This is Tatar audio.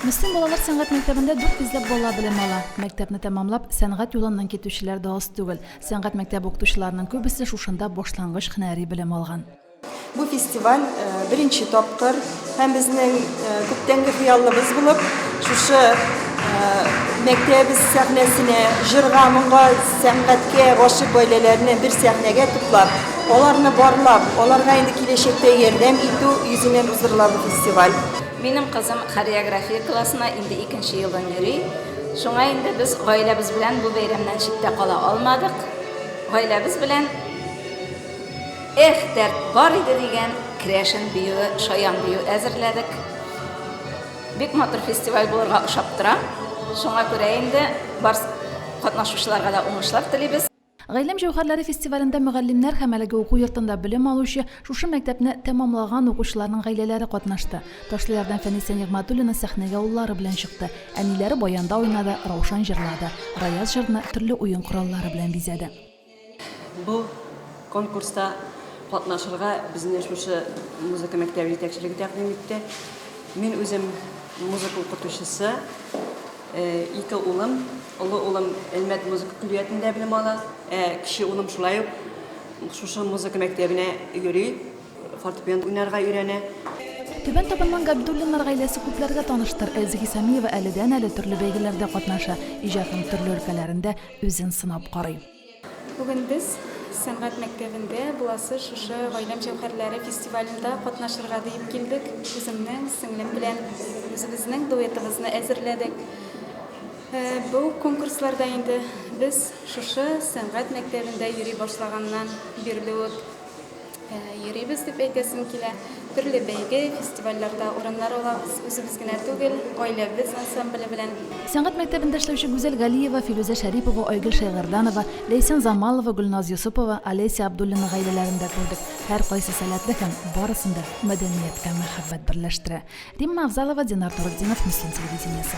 Мөслим балалар сәнгать мәктәбендә дүрт йөзләп бала белем ала. Мәктәпне тәмамлап, сәнгать юлыннан китүчеләр дә аз түгел. Сәнгать мәктәбе укытучыларының күбесе шушында башлангыч һөнәри белем алган. Бу фестиваль беренче тапкыр һәм безнең күптәнге хыялыбыз булып, шушы мәктәбебез сәхнәсенә җырга, моңга, сәнгатькә гашыйк гаиләләрне бер сәхнәгә туплап, аларны барлап, аларга инде киләчәктә ярдәм итү йөзеннән уздырыла бу фестиваль. Минем кызым хореография классына инде икенче елын йөри. Шуңа инде без гаиләбез белән бу бәйрәмнән читтә кала алмадык. Гаиләбез белән Эх, дәрт бар иде дигән крәшен биюе, шаян бию әзерләдек. Бик матур фестиваль булырга ошап тора. Шуңа күрә инде барс катнашучыларга да уңышлар телибез. Гыйлем җәүһәрләре фестивалендә мөгаллимнәр һәм әлеге уку йортында белем алучы, шушы мәктәпне тәмамлаган укучыларның гаиләләре катнашты. Ташлыярдан Фәнисә Нигъмәтуллина сәхнәгә уллары белән чыкты. Әниләре баянда уйнады, Раушан җырлады. Раяз җырны төрле уен кораллары белән бизәде. Бу конкурста катнашырга безне шушы музыка мәктәбе җитәкчелеге тәкъдим итте. Мин үзем музыка укытучысы. Ике улым, олы улым Әлмәт музыка көллиятендә белем ала, ә кече улым шулай ук шушы музыка мәктәбенә йөри, фортепиано уйнарга өйрәнә. Түбән Табынның Габдуллиннар гаиләсе күпләргә таныштыр. Әлзги Сәмиева әледән-әле төрле бәйгеләрдә катнаша, иҗатының төрле өлкәләрендә үзен сынап карый. Бүген без сәнгать мәктәбендә буласы шушы Гаиләм җәүһәрләре фестивалендә катнашырга диеп килдек. Үземнең сеңлем белән үзебезнең дуэтыбызны әзерләдек. Э, бу конкурсларда инде без шушы сәнгать мәктәбендә йөри башлаганнан бирле үк Йөрибез дип әйтәсем килә. Төрле бәйге, фестивальләрдә урыннар алабыз. Үзебез генә түгел, гаиләбез ансамбле белән. Сәнгать мәктәбендә эшләүче Гүзәл Галиева, Филүзә Шәрипова, Айгөл Шәйгәрданова, Ләйсән Замалова, Гөлназ Йосыпова, Олеся Абдуллина гаиләләрен дә күрдек. Һәркайсы сәләтле һәм барысын да мәдәнияткә мәхәббәт берләштерә. Римма Авзалова, Динар Торетдинов, Мөслим телевидениесе.